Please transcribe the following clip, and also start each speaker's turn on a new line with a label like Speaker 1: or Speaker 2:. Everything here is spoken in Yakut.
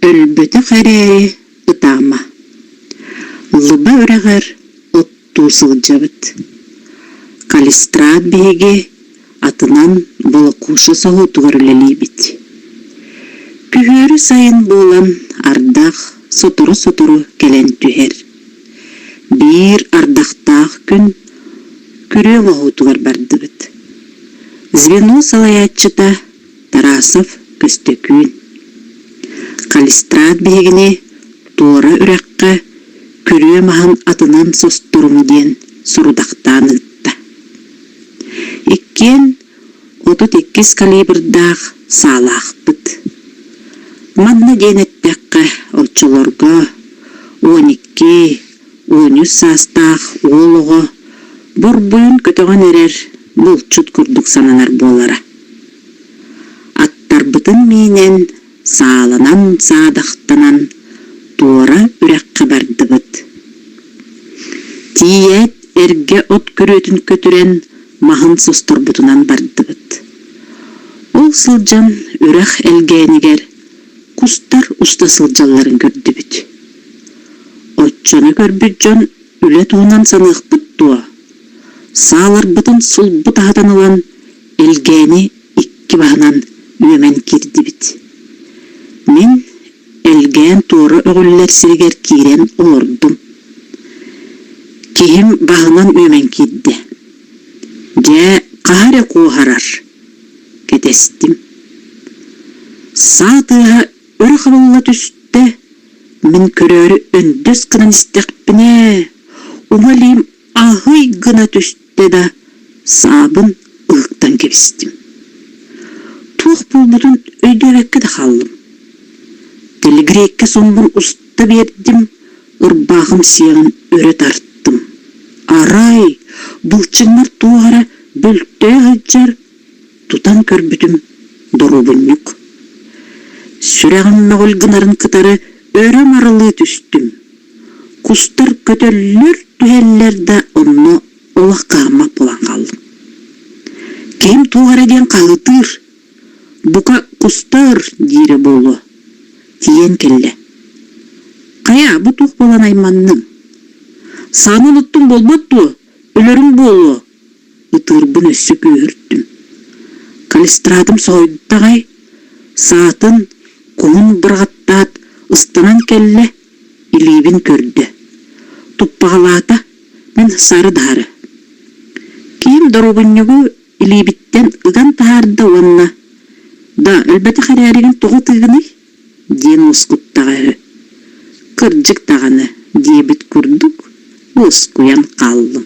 Speaker 1: Өлбөтөх эрээри ытаама. Лыба үрэҕэр туу сылдьабыт. Калистрат биһиги атынан Болокуша соһуутугар үлэлиибит. Күһүөрү сайын буолан ардах сотору-сотору кэлэн түһэр. Биир ардахтаах күн күрүө моһуутугар бардыбыт. Звено салайааччыта Тарасов Көстөкүүн Калистрат биһигини туора үрэххэ күрүө маһын атынан состоруҥ диэн сорудахтаан ыытта. Иккиэн отут иккис калибрдаах саалаахпыт. Манна диэн эттэххэ, оччолорго он икки, Оонньус саастаах уол оҕо бурбуйун көтөҕөн эрэр булчут курдук сананар буолара. Аттарбытын миинэн сааланан саадахтанан туора үрэххэ бардыбыт. Тиийээт эргэ от күрүөтүн көтүрэн маһын состорбутунан бардыбыт. Ол сылдьан үрэх элгээнигэр кустар уста сылдьалларын көрдүбүт. Оччону көрбүт дьон үлэ туһунан саныахпыт дуо? Сааларбытын сулбу таһытан ылан, элгээни икки баһынан үөмэн киирдибит. Мин элгээн туора өҕүллэр сиригэр киирэн олордум. Киһим баһынан үөмэн киирдэ. Дьэ, хаһа эрэ куоһарар. Кэтэстим. Саа тыаһа өрө хабылла түстэ. Мин көрөөрү өндөс гынан истэхпинэ, уҥа илиим аһый гына түстэ да, саабын ылыктан кэбистим. Туох буолбутун өйдөөбөккө да хааллым. Тэлигрейккэ соммун уста биэрдим, ырбаахым сиэҕин өрө тартым. Арай, былчыҥнар туох эрэ бөлтөө сылдьар, тутан көрбүтүм доруобунньук. Сүрэҕим мөҕүл гынарын кытары өрүм арылыы түстүм. Кустар көтөллөр түһэллэр да онно олох хааммат буолан хааллым. Ким туох эрэ диэн хаһытыыр. Бука кустар диирэ буолуо. Тиийэн кэллэ. Хайа бу туох буолан айманныҥ? Сааны уныттуҥ буолбат дуо? Өлөрүм буолуо, ытыырбын өссө күүһүртүм. Калистрадым соһуйда аҕай, саатын куһун бырҕаттаат ыстанан кэллэ, илиибин көрдө. Туппаҕалаата, мин сары даһары. Киин доруобунньугу илиибиттэн ыган таһаарда уонна «Да, өлбөтөх эрээригин тоҕо тыыгыный?» диэн уоскуттэҕа үһү. Кырдьык даҕаны, диэбит курдук, уоскуйан хааллым.